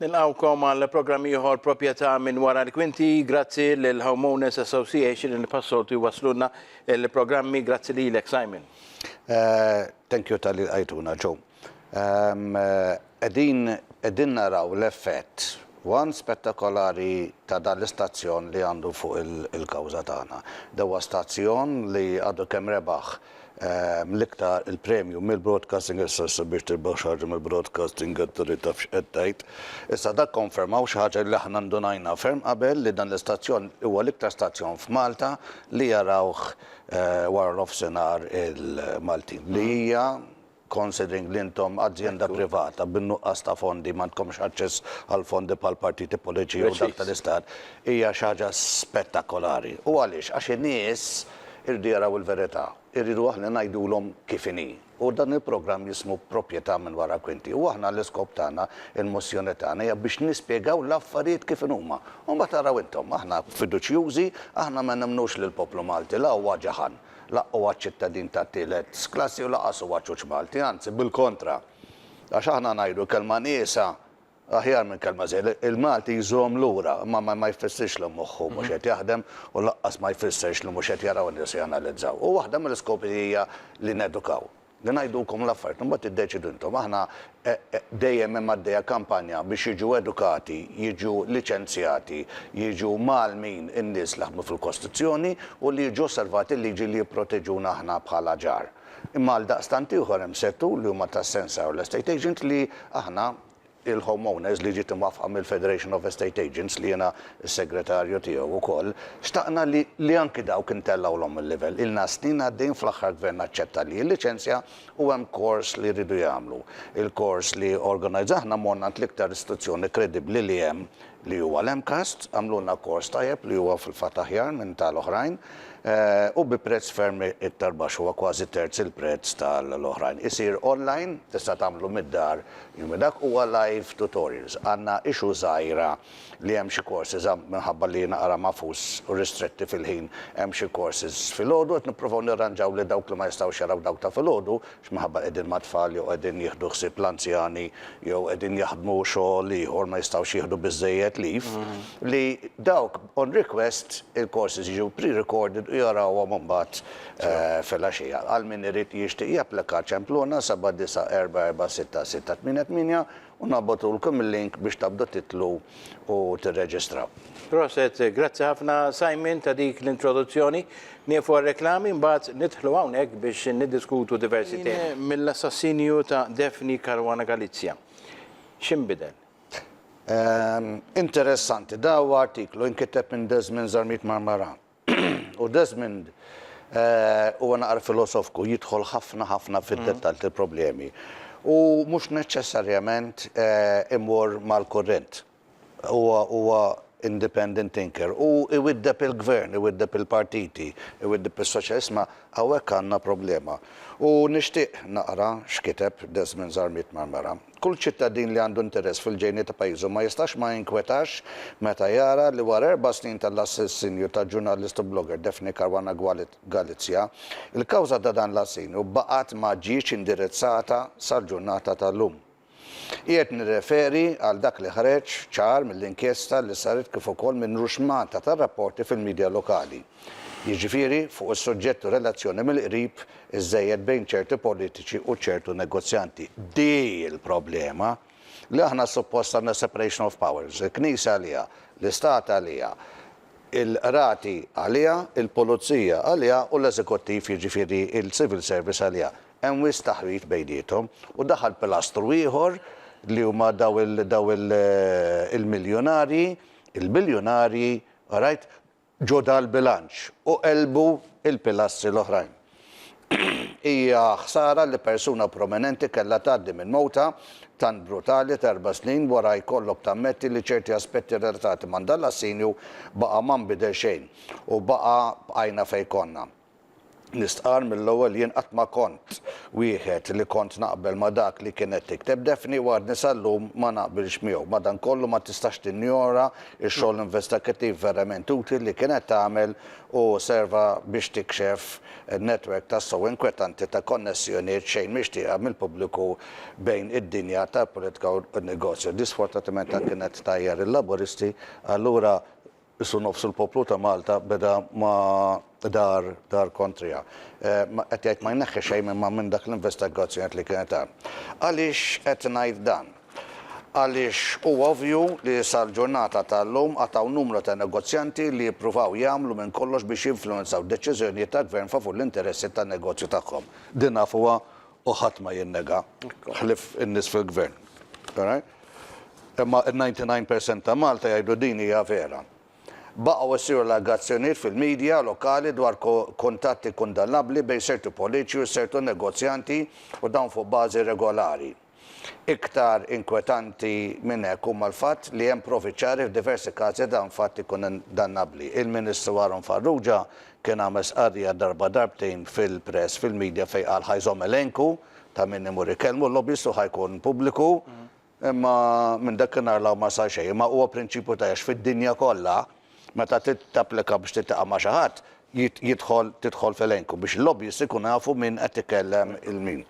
Nilqgħukom għal programm ieħor Proprjetà minn Wara l-Kwinti. Grazzi lill-Homeowners Association li bħas-soltu jwasslulna l-programmi. Grazzi lilek, Simon. Thank you talli lqajtuna, Joe. Qegħdin qegħdin naraw l-effett one spettakolari ta' dan l-istazzjon li għandu fuq il-kawża tagħna. Dewastazzjon li għadu kemm rebaħ l-iktar il-premju mill-Broadcasting Assessor biex tirbaħ xi ħaġa mill-Broadcasting Authority taf x'qed tgħid. Issa dak konfermaw xi ħaġa li aħna ndunajna ferm qabel li dan l-istazzjon huwa l-iktar stazzjon f'Malta li jarawh wara nofsinhar il-Maltin li hija considering li intom azjenda privata bin-nuqqas ta' fondi m'għandkomx aċċess għal fondi bħal partiti politiċi jew dak tal-istat, hija xi ħaġa spettakolari. U għaliex? Għax in-nies iridu jaraw il-verità, iridu aħna ngħidulhom kif inhi. U dan il-programm jismu Proprjetà minn wara kwinti. U aħna l-iskop tagħna, il-mozzjoni tagħna hija biex nispjegaw l-affarijiet kif inhuma. U mbagħad araw intom, aħna fiduċjużi, aħna ma nemmnux li l-poplu Malti la huwa ġaħan, Laqq huwa ċittadin tat-tielet klassi u lanqas huwa ċuċ Malti, anzi bil-kontra. Għax aħna ngħidu kelma nieqsa aħjar minn kelma żejda. Il-Malti jżomm lura, imma ma jfissirx li moħħu mhux qed jaħdem u lanqas ma jfissirx li mhux qed jaraw in-nies u janalizzaw. U waħda mill-iskopi hija li nedukaw. li ngħidulkom l-affarijiet, imbagħad tiddeċiedu intom. Aħna dejjem hemm għaddejja kampanja biex jiġu edukati, jiġu liċenzjati, jiġu mgħallmin in-nies li jaħdmu fil-kostruzzjoni u li jiġu osservati l-liġi li jipproteġuna aħna bħala ġar. Imma għaldaqstant ieħor hemm settur li huma tas-sensar u l-estate agent li aħna il-Home Owners li ġiet imwaffqa mill-Federation of Estate Agents li jiena s-segretarju tiegħu wkoll, xtaqna li li anki dawk intellgħulhom il-livell. Ilna snin għaddejjin fl-aħħar gvern aċċetta li jilliċenzja u hemm kors li jridu jagħmlu. Il-kors li organizzahna morna għand l-iktar istituzzjoni kredibbli li hemm li huwa l-MCAST, għamlulna kors tajjeb li huwa fil-fatt aħjar minn ta' l-oħrajn u bi prezz ferm iktar baxx, huwa kważi terz il-prezz ta' l-oħrajn. Isir online, tista' tagħmlu mid-dar, jiġifieri dak huwa live tutorials. Għandna issue żgħira li hemm xi courses minħabba li jiena ara magħfus u ristretti fil-ħin, hemm xi courses filgħodu, qed nippruvaw nirranġaw li dawk li ma jistgħux jaraw dawk ta' filgħodu x'minħabba qegħdin mat-tfal jew qegħdin jieħdu ħsieb l-anzjani jew qegħdin jaħdmu xogħol ieħor ma jistgħux jieħdu biżżejjed leave, li dawk on request il-courses jiġu pre-recorded u jarawhom imbagħad filgħaxija. Għal min irid jixtieq japplika ċempluna 7944668. U nabgħtulkom il-link biex taqbdu titlu u tirreġistraw. Proset, grazzi ħafna Simon ta' dik l-introduzzjoni. Nieqfu għar-reklami mbagħad nidħlu hawnhekk biex niddiskutu diversi temi. Ħin mill-assassinju ta' Daphne Caruana Galizia. X'inbidel? Interessanti, dan huwa artiklu inkiteb minn Desmond Zarmit Marmarano. U Desmond huwa naqra filosofku, jidħol ħafna ħafna fid-dettall tal-problemi. U mhux neċċessarjament imur mal-kurrent. Huwa huwa independent thinker u jwiddeb il-gvern, iwiddeb il-partiti, iwiddeb is-soċjal. Isma' hawnhekk għandna problema. U nixtieq naqra x'kiteb Desmond Zarmiet Marmara. Kull ċittadin li għandu interess fil-ġejni ta' pajjiżu ma jistax ma jinkwetax meta jara li wara erba' snin tal-assassinju tal-ġurnalist u blogger Daphne Caruana Galizia, il-kawża ta' dan l-assinju baqgħet ma ġietx indirizzata sal-ġurnata tal-lum. Qiegħed nirreferi għal dak li ħreġ ċar mill-inkjesta li saret kif ukoll minn ruxmata ta' rapporti fil-midja lokali. jiġifieri fuq is-suġġett u relazzjoni mill-qrib iżżejjed bejn ċerti politiċi u ċertu negozjanti. Di hi l-problema, li aħna suppost għandna separation of powers, il-Knisja għaliha, l-Istat għaliha, il-Qrati għaliha, il-Pulizija għaliha u l-Eżekuttiv, jiġifieri l-Civil Service għaliha. Hemm wisq taħwid bejniethom u daħal pilastru ieħor li huma dawn il-miljunarji, il-biljunarji, all right? ġo dal-bilanċ u qelbu l-pilastri l-oħrajn. Hija ħsara li persuna prominenti kellha tgħaddi minn mewta tant brutali t'erba' snin wara jkollok tammetti li ċerti aspetti relatati ma' dan l-assinju baqa' ma nbidel xejn u baqa' bqajna fejn konna. Nistqarr mill-ewwel jien qatt ma kont wieħed li kont naqbel ma' dak li kienet tikteb Daphne u għadni sal-lum ma naqbilx miegħu. Madankollu ma tistax tinjora x-xogħol investakittiv verament utli li kienet tagħmel u serva biex tikxef netwerk tassew inkwetanti ta' konnessjoniet xejn mixtieqa mill-pubbliku bejn id-dinja tal-politika u n-negozju. Di sfortunatament kienet tgħajjar il-Laburisti allura Qisu nofs il-poplu ta' Malta beda ma' dar dar kontriha. Qed jgħid ma jneħħi xejn imma minn dak l-investigazzjonijiet li kienet hemm. Għaliex qed ngħid dan? Għaliex huwa ovvju li sal-ġurnata tal-lum għad hawn numru ta' negozjanti li jippruvaw jagħmlu minn kollox biex jinfluwenzaw deċiżjonijiet tal-Gvern favur l-interessi tan-negozju tagħhom. Din nafuha u ħadd ma jinnega, ħlief in-nies fil-Gvern. Imma n-ninety nine percent ta' Malta jgħidu din hija vera. Baqgħu jsiru allegazzjonijiet fil-media lokali dwar kuntatti kundannabbli bejn sertu politiċi u sertu negozjanti u dawn fuq bażi regolari. Iktar inkwetanti minn hekk huma l-fatt li hemm provi ċari f'diversi każi ta' dawn fatti kundannabbli. Il-Ministru Aaron Farrugia Kien għamel stqarrija darba darbtejn fil-press, fil-media fejn qal ħa jżomm elenku ta' min imur ikellmu, l-lobbyist u ħa jkun pubbliku, imma minn dakinhar 'l hawn ma sar xejn. Imma huwa prinċipju ta' għex fid-dinja kollha meta trid tapplika biex tiltaqa' ma' xi ħadd jidħol tidħol f'elenku biex il-lobbyist ikunu jafu min qed ikellem il-min.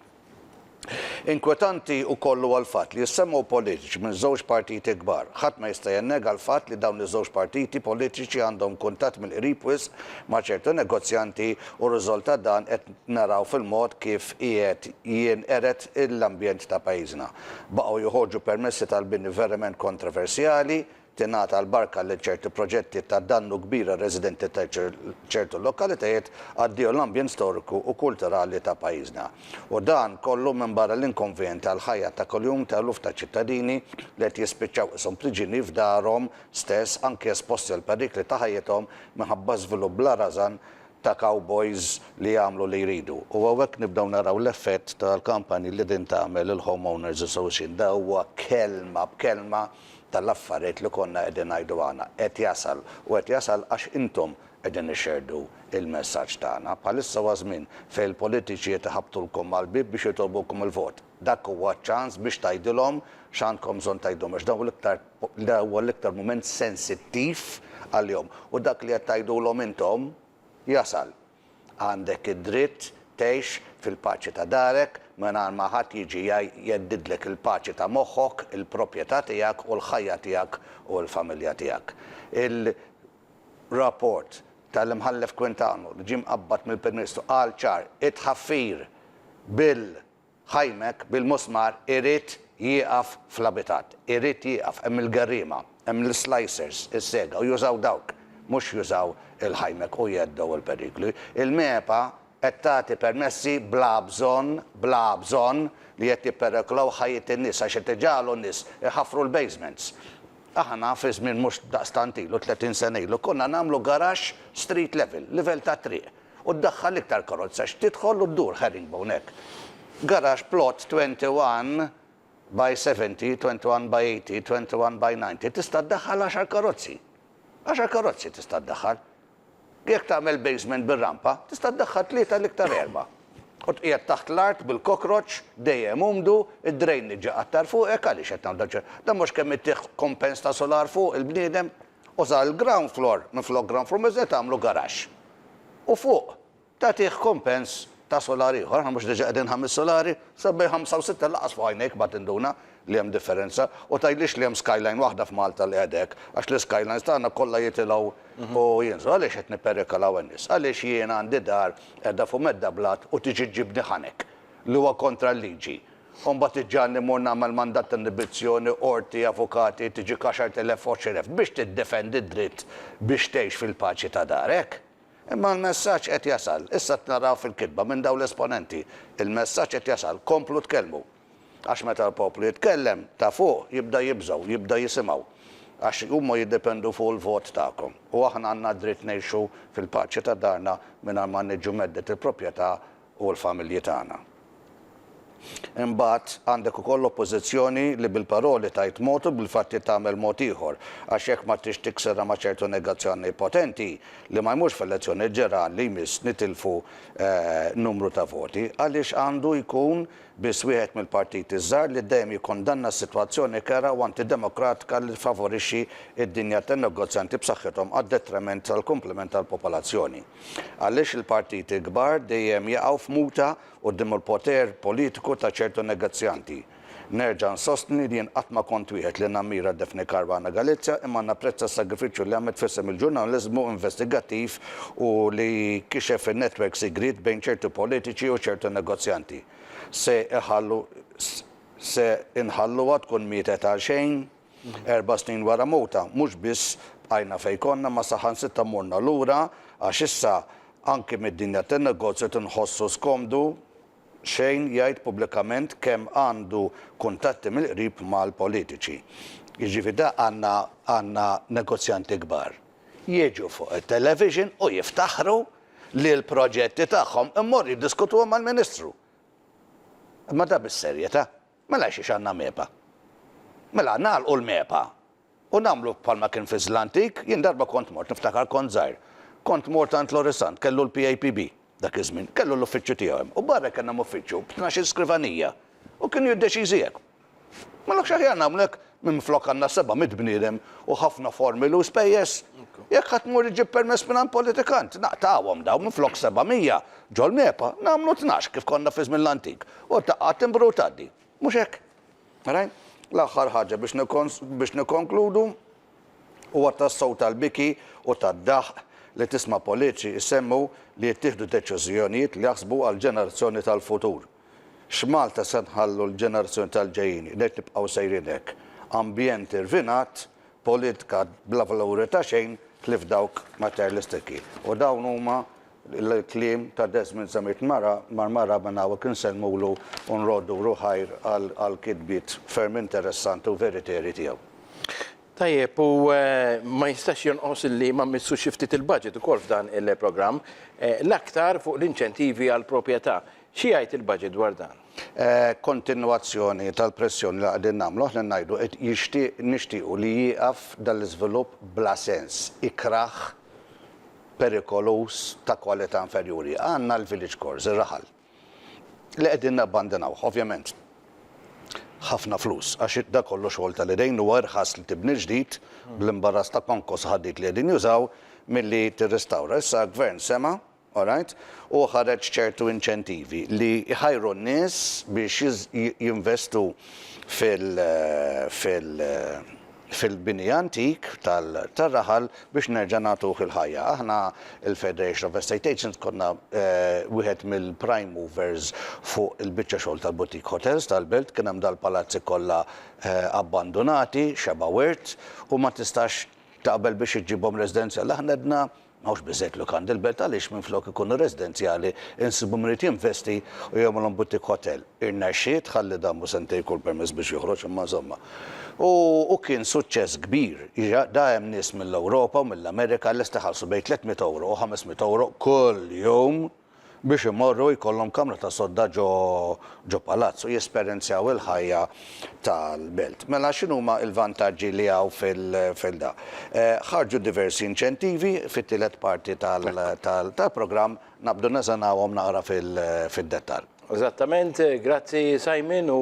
Inkwetanti wkoll huwa l-fatt li jissemmgħu politiċi minn żewġ partiti kbar. Ħadd ma jista' jinnega l-fatt li dawn iż-żewġ partiti politiċi għandhom kuntatt mill-qrib wisq ma' ċertu negozjanti u r-riżolt ta' dan qed naraw fil-mod kif qiegħed jinqered l-ambjent ta' pajjiżna. Baqgħu joħorġu permessi tal-bini verament kontroversjali, tingħata l-barka lil ċerti proġetti ta' dannu kbir għar-residenti ta' ċertu lokalitajiet għaddiegħu l-ambjent storiku u kulturali ta' pajjiżna. U dan kollu minbarra l-inkonvjenjent għall-ħajja ta' kuljum ta' eluf ta' ċittadini li qed jispiċċaw qishom priġieni f'darhom stess anki esposti għal perikli ta' ħajjithom minħabba żvilupp bla rażan ta' cowboys li jagħmlu li jridu. U hawnhekk nibdew naraw l-effett tal-kampanji li din tagħmel il-Home Owners Association. Dan huwa kelma b'kelma. tal-affarjet li konna qegħdin ngħidu għana qed jasal u qed jasal għax intom qegħdin ixxerdu il-messaġġ tagħna. Bħalissa huwa żmien fejn il-politiċi qed iħabbtulkom mal-bieb biex jitolbukom il-vot. Dak huwa ċ-ċans biex tgħidilhom x'għandkom bżonn tgħidulhom għax dawn l-iktar dan huwa l-iktar mument sensittiv għalihom u dak li qed tgħidulhom intom jasal. Għandek id-dritt tgħix fil-paċi ta' darek mingħajr ma ħadd jiġi jeddidlek il-paċi ta' moħħok, il-propjetà tiegħek u l-ħajja tiegħek u l-familja tiegħek. Il-rapport tal-Imħallef Quintano li ġie mqabbad mill-Prim Ministru qal ċar, it-tħaffir bil-Gvern Ħajmek bil-musmar irid jieqaf fl-abitat. Irid jieqaf. Hemm il-gerriema. Hemm l-islicers, is-sega, u jużaw dawk. Mhux jużaw il-ħajmek u jgħeddew il-perikli. Il-MEPA qed tagħti permessi bla bżonn, bla bżonn, li qed jippereklaw ħajjet in-nies għax qed iġagħlu n-nies iħaffru l-basements. Aħna fi żmien mhux daqstant ilu, 30 sena ilu, konna nagħmlu garaxx street level, livell tat-triq. u ddaħħal l-iktar karozza għax tidħol u ddur ħarib hawnhekk. Garaxx plot 21 by 70, 21 by 80, 21 by 90 tista' ddaħħal għaxar karozzi. Għaxar karozzi tista' ddaħħal. Jekk tagħmel basement bir-rampa, tista' ddaħħal tlieta l-iktar erba'. U tqiegħed taħt l-art bil-cockroach dejjem umdu, id-drainage iqattar fuqek għaliex qed nagħmlu dan. Dan mhux kemm ittih kumpens ta' sular fuq il-bniedem? u sar il-ground floor minflok ground floor miżjed tagħmlu garaxx. U fuq tagħtih kumpens ta' solar ieħor, aħna mhux diġa' qegħdin ħames solari? Sa bejn ħamsa u sitta lanqas fuq għajnejk ma tinduna li hemm differenza u tgħidlix li hemm skyline waħda f'Malta li qed hekk għax l-iskylines tagħna kollha jitilgħu u jinżlu. Għaliex qed nipperikolaw in-nies? Għaliex jien għandi dar qiegħda fuq medda blat u tiġi ġġibni ħanek li huwa kontra l-liġi U mbagħad iġġagħalni mmur nagħmel mandat ta' inibizzjoni, qorti, avukati, tiġik għaxart elef, għoxr elef, biex tiddefendi d-dritt biex tgħix fil-paċi ta' darek? Imma l-messaġġ qed jasal, issa qed naraw fil-kitba minn dawn l-esponenti, il-messaġġ qed jasal, komplu tkellmu. Għax meta l-poplu jitkellem, ta' fuq jibda jibżgħu, jibda jisimgħu. Għax huma jiddependu fuq il-vot tagħkom. U aħna għandna d-dritt ngħixu fil-paċi ta' darna mingħajr ma niġu mheddet il-propjetà u l-familji tagħna. Imbagħad, għandek ukoll l-Oppożizzjoni li bil-paroli tgħid mod u bil-fatti tagħmel mod ieħor, għax jekk ma tridx tikserha ma' ċertu negazzjoni potenti, li ma jmurx f'elezzjoni ġeran li jmiss nitilfu numru ta' voti, għaliex għandu jkun biss wieħed mill-partiti ż-żgħar li dejjem jikkundanna s-sitwazzjoni kerha u antidemokratika li tfavorixxi d-dinja tan-negozjanti b'saħħithom għad-detriment tal-kumplament tal-popolazzjoni. Għaliex il-partiti l-kbar dejjem jaqgħu f'muta quddiem l-poter politiku ta' ċertu negozjanti? Nerġa' nsostni li jien qatt ma kont wieħed li nammira Daphne Caruana Galizia imma napprezza s-sagrifiċċju li għamlet f'isem il-ġurnaliżmu investigattiv u li kixef in-netwerk sigriet bejn ċertu politiċi u ċertu negozjanti. Se inħalluha tkun mietet għalxejn? Erba' snin wara mewtha, mhux biss bqajna fejn konna ma saħansitra morna lura għax issa anki mid-dinja tan-negozju qed inħossu skomdu xejn jgħid pubblikament kemm għandu kuntatti mill-qrib mal-politiċi. Jiġifieri da għandna għandna negozjanti kbar. Jiġu fuq it-television u jiftaħru li l-proġetti tagħhom immorru jiddiskutuhom mal-Ministru. Imma da bis-serjetà. Mela għalxiex għandna MEPA? Mela nagħlqu l-MEPA u nagħmlu bħalma kien fi Zlantik, jien darba kont mort, niftakar kont żgħir, kont mort għand Lorisant, kellu l-PAPB dak iż-żmien, kellu l-uffiċċju tiegħu hemm u barra hekk kellna uffiċċju b'tnax-il skrivanija u kienu jiddeċiżi hekk. Mela hux aħjar nagħmlu hekk Minflok għandna seba' mitt bniedem u ħafna formili u spejjeż. Jekk ħadd imur iġib permess mingħand politikant, naqtgħuhom dawn, minflok seba' mija ġol-MEPA, nagħmlu tnax kif konna fi żmien l-antik, u taqqa' timbru u tgħaddi. Mhux hekk? Rajn? L-aħħar ħaġa biex biex nikkonkludu, huwa tassew tal-biki u tad-daħq li tisma' politiċi jsemmu li jittieħdu deċiżjonijiet li jaħsbu għall-ġenerazzjoni tal-futur. X'Malta se nħallu l-ġenerazzjoni tal-ġejjieni? Ngħid nibqgħu sejrin hekk. Ambjent irvinat, politika bla valuri ta' xejn ħlief dawk materjalistiċi. U dawn huma l-kliem ta' Desmond Zammit Mara Marmara minn hawnhekk insellmulu u nroddulu ħajr għall-kitbiet ferm interessanti u veritieri tiegħu. Tajjeb, u ma jistax jonqos li ma mmissux xi ftit il-budget ukoll f'dan il-programm, l-aktar fuq l-inċentivi għall-proprjetà. Xi jgħid il-Baġit dwar dan? Kontinwazzjoni tal-pressjoni li qegħdin nagħmlu, aħna ngħidu qed jixtieq, nixtiequ li jieqaf dan l-iżvilupp bla sens, ikrah, perikoluż, ta' kwalità inferjuri. Għandna l-village cores, ir-raħal, li qegħdin nabbandinawh. Ovvjament, ħafna flus, għax dan kollu xogħol tal-idejn, huwa irħas li tibni ġdid, bl-imbarras ta' konkos u ħaddied li qegħdin jużaw, milli tirrestawra. Issa l-Gvern sema', All right? Huwa ħareġ ċertu inċentivi li jħajru n-nies biex jinvestu fil-bini antik tar-raħal biex nerġa' nagħtuh il-ħajja. Aħna l-Federation of Estate Agents konna wieħed mill-prime movers fuq il-biċċa xogħol tal-boutique hotels tal-belt. Kien hemm dal-palazzi kollha abbandunati, xebgħa wirt, u ma tistax taqbel biex iġġibhom residenzjali. Aħna għedna M'hawnx biżżejjed lukandi l-belt għaliex minflok ikunu residenzjali insibu min irid jinvesti u jagħmilhom boutique hotel. Irnexxiet, ħalli dan mhu sentejn kull permess biex joħroġ imma insomma. U u kien suċċess kbir. Jiġi da hemm nies mill-Ewropa u mill-Amerika lest iħallsu bejn 300 ewro u 500 ewro kuljum. biex imorru jkollhom kamra ta' sodda ġo ġo palazz u jesperenzjaw il-ħajja tal-belt. Mela x'inhuma l-vantaġġi li hawn fil fil da. Ħarġu diversi inċentivi fit-tielet parti tal tal tal-programm naqbdu neżanawhom naqra fil fid-dettall. Eżattament, grazzi Simon u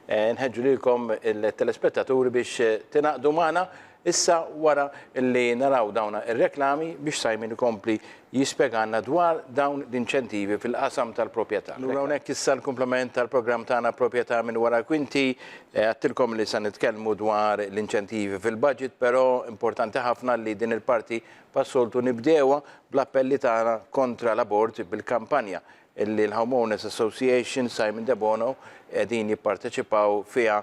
nħeġġu lilkom il-telespettaturi biex tingħaqdu magħna Issa wara li naraw dawn ir-reklami biex Simon ikompli jispjegalna dwar dawn l-inċentivi fil-qasam tal-propjetà. Lura hawnhekk issa l-kumplament tal-programm tagħna Propjetà minn wara l-kwinti. Għedtilkom li se nitkellmu dwar l-inċentivi fil-budget però importanti ħafna li din il-parti pas-soltu nibdewha bl-appelli tagħna kontra l-abort bil-kampanja li l-Homeowners Association Simon Debono qegħdin jipparteċipaw fiha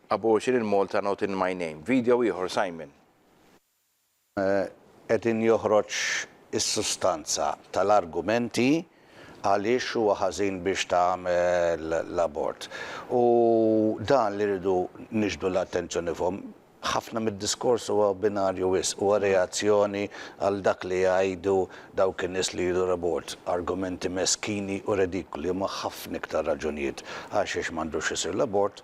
Abortion in Malta not in my name. Video ieħor Simon. Qegħdin joħroġ is-sustanza tal-argumenti għaliex huwa ħażin biex tagħmel l-abort. U dan li rridu niġbdu l-attenzjoni fuq. Ħafna mid-diskors huwa binarju wisq, huwa reazzjoni għal dak li jgħidu dawk in-nies li jridu l-abort. Argumenti meskini u redikoli, imma ħafna iktar raġunijiet għalxiex m'għandux isir l-abort.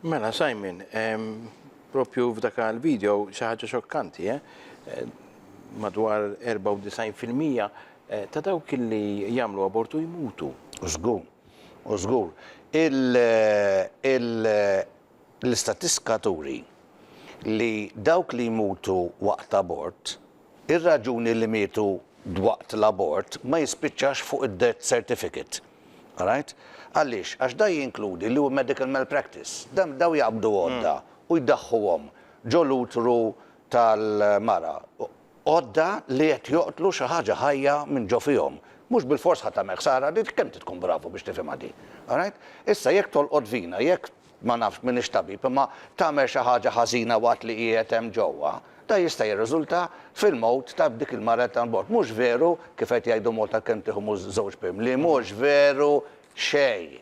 Mela Simon, propju f'dak il-video xi ħaġa xokkanti, eh? Madwar 94 fil-mija eh, ta' dawk li jagħmlu abortu jmutu. U żgur, u żgur. L-istatistika turi li dawk li jmutu waqt abort Ir-raġuni li mietu dwaqt l-abort ma jispiċċax fuq id-death certificate. Alright? Għaliex? Għax dan jinkludi li hu medical malpractice. Dan dawn jaqbdu għodda u jdaħħuhom ġo l-utru tal-mara. Għodda li qed joqtlu xi ħaġa ħajja minn ġo fihom. Mhux bilfors ħa tagħmel ħsara, kemm trid tkun bravu biex tifhimha din? Alright? Issa jekk tolqot vina, jekk ma nafx, m'iniex tabib, imma tagħmel xi ħaġa ħażina waqt li qiegħed hemm ġewwa, dan jista' jirriżulta fil-mewt ta' dik il-mara qed tagħmel l-bord. Mhux veru, kif qed jgħidu Malta kemm tieħu mhu żewġ pim, li mhux veru xejn.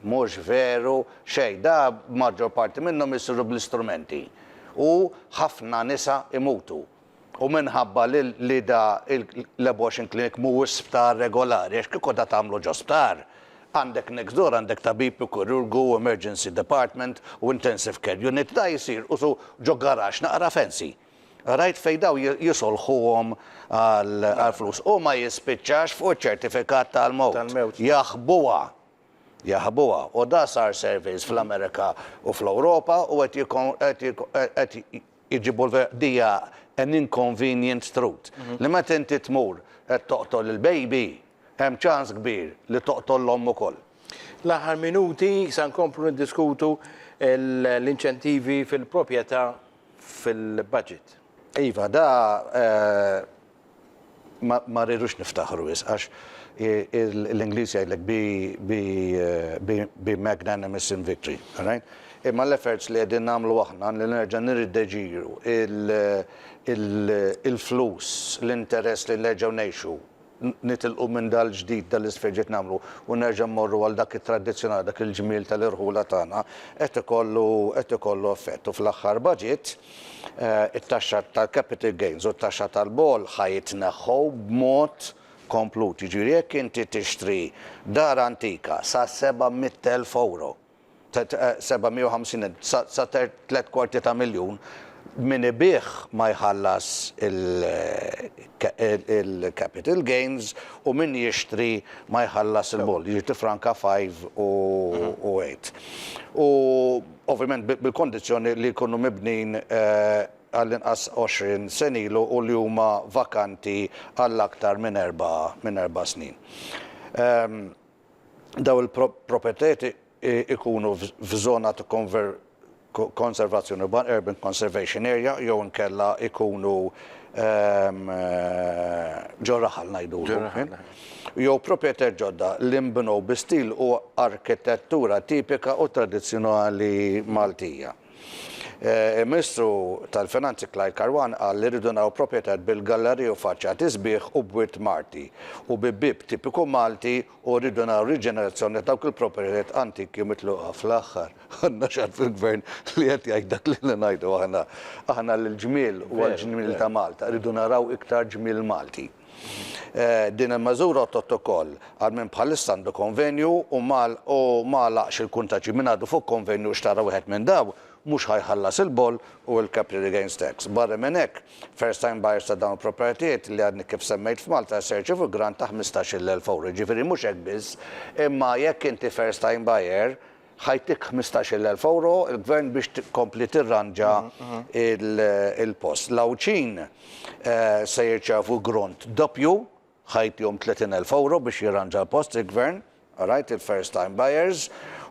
Mhux veru xejn. Da maġġor parti minnhom isiru bl-istrumenti u ħafna nisa jmutu. U minħabba li li da il l-abortion clinic mhuwiex sptar regolari, għax kieku da tagħmlu ġo sptar, għandek next door għandek tabib u kirurgu u emergency department u intensive care unit, da jsir usu ġo garaxx naqra fancy. Rajt fejn dawn ji jisolħuhom għal għal flus. U ma jispiċċax fuq iċ-ċertifikat tal-mewt. Tal-mewt. Jaħbuha. Jaħbuha. U da sar surveys fl-Amerika u fl-Ewropa u qed jikon qed jikon qed Iġibu l-verqdija an inconvenient truth, li meta inti tmur qed toqtol il-baby, hemm ċans kbir li toqtol l-omm ukoll. L-aħħar minuti sa nkomplu niddiskutu l-inċentivi fil-proprjetà fil-budget. Iva, da Ma rridux niftaħru wisq għax l-Ingliż jgħidlek be magnanimous in victory, all right? Imma l-efforts li qegħdin nagħmlu aħna li nerġa' nirrideġiru l-flus, l-interess li nerġgħu ngħixu, nitilqu minn dal-ġdid, dal-isfel ġdid nagħmlu u nerġa' mmorru għal dak it-tradizzjonali, dak il-ġmiel tal-irħula tagħna, qed ikollu effett. U fl-aħħar budget, it-taxxa tal-capital gains u t-taxxa tal-bogħol ħa jitneħħu b'mod komplut. Jiġifieri jekk inti tixtri dar antika sa 700,000 ewro, 750,000 sa sa tliet kwarti ta' miljun, min ibigħ ma jħallas il-capital gains u min jixtri ma jħallas il-bogħol. Jiġifieri tifranka 5 u 8. U ovvjament bil-kondizzjoni li jkunu mibnijin għallinqas 20 sena ilu u li huma vakanti għal aktar minn erba' snin. Dawn il-proprjetajiet ikunu f'żona ta' konservazzjoni urban, urban conservation area, jew inkella ikunu ġo raħal ngħidulu. jew proprjetajiet ġodda li nbnew bi stil u arkitettura tipika u tradizzjonali Maltija. Il-Ministru tal-Finanzi Clyde Karwan qal li rridu naraw proprjetajiet bil-galleriji u faċċati sbieħ u b'wirt Marti u bi bieb tipiku Malti u rridu naraw riġenerazzjoni ta' dawk il-proprjetajiet antiki u mitluqa. Fl-aħħar, għandna xagħar fil-Gvern li qed jgħid dak li ilna ngħidu aħna. Aħna l-ġmiel u għall-ġmiel ta' Malta rridu naraw iktar ġmiel Malti. Din il-meżura għottot ukoll għal min bħalissa għandu konvenju u ma għalaqx il-kuntaġġi. Min għadu fuq konvenju u xtara wieħed minn dawn, mhux ħa jħallas il-boll u l-capital gains tax. Barra minn hekk, first time buyers ta' dawn il-proprjetajiet li għadni kif semmejt f'Malta se jirċievu grant ta' ħmistax-il elf ewro. Jiġifieri mhux hekk biss, imma jekk inti first time buyer, Ħa jtik ħmistax-il elf ewro il-Gvern biex tkompli tirranġa l-post. L-Għawdxin se jirċevu grond doppju, ħa jtihom tletin elf ewro biex jirranġa l-post il-Gvern, għarajt il-first time buyers,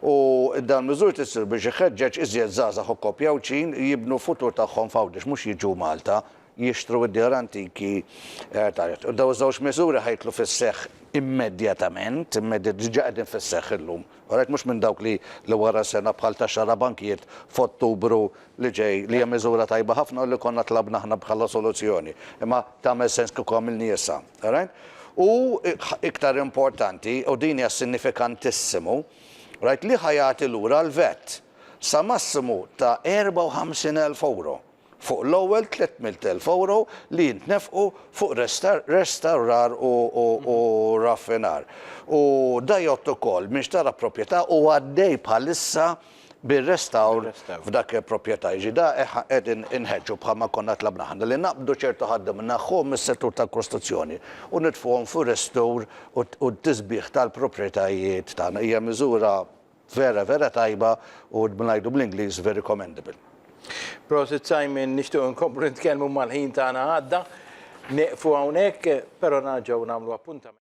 u dawn miżuri tissir biex iħeġġeġ iżjed żgħażagħ u koppji Għawdxin jibnu futur tagħhom f'Għawdex mhux jiġu Malta jixtru id-djar antiki ta' Dawn żewġ miżuri ħa jidħlu fis-seħħ immedjatament, diġa qegħdin fis-seħħ illum. Orajt mhux minn dawk li li wara sena bħal ta' xarabankijiet f'Ottubru li ġej li hija miżura tajba ħafna u li konna tlabna aħna bħala soluzzjoni. Imma tagħmel sens kieku għamilniha issa. Orajt? U iktar importanti, u din hija sinifikantissimu, orajt li ħa jagħti lura l-VAT sa massimu ta' 54 elf ewro. fuq l-ewwel 300,000 ewro li jintnefqu fuq restawrar u raffinar. U da jgħodd ukoll min xtara proprjetà u għaddej bħalissa bir-restawr f'dak il-proprjetà. Jiġifieri da qegħdin inħeġġu bħalma konna tlabna aħna li naqbdu ċertu ħaddiema nneħħuhom mis-settur tal-kostruzzjoni u nitfgħuhom fir-restawr u t-tisbiħ tal-proprjetajiet tagħna. Hija miżura vera vera tajba u ngħidu bl-Ingliż very commendable. Prosit Simon, nixtiequ inkomplu nitkellmu imma l-ħin tagħna għadda. Nieqfu hawnhekk, però narġgħu nagħmlu appuntament.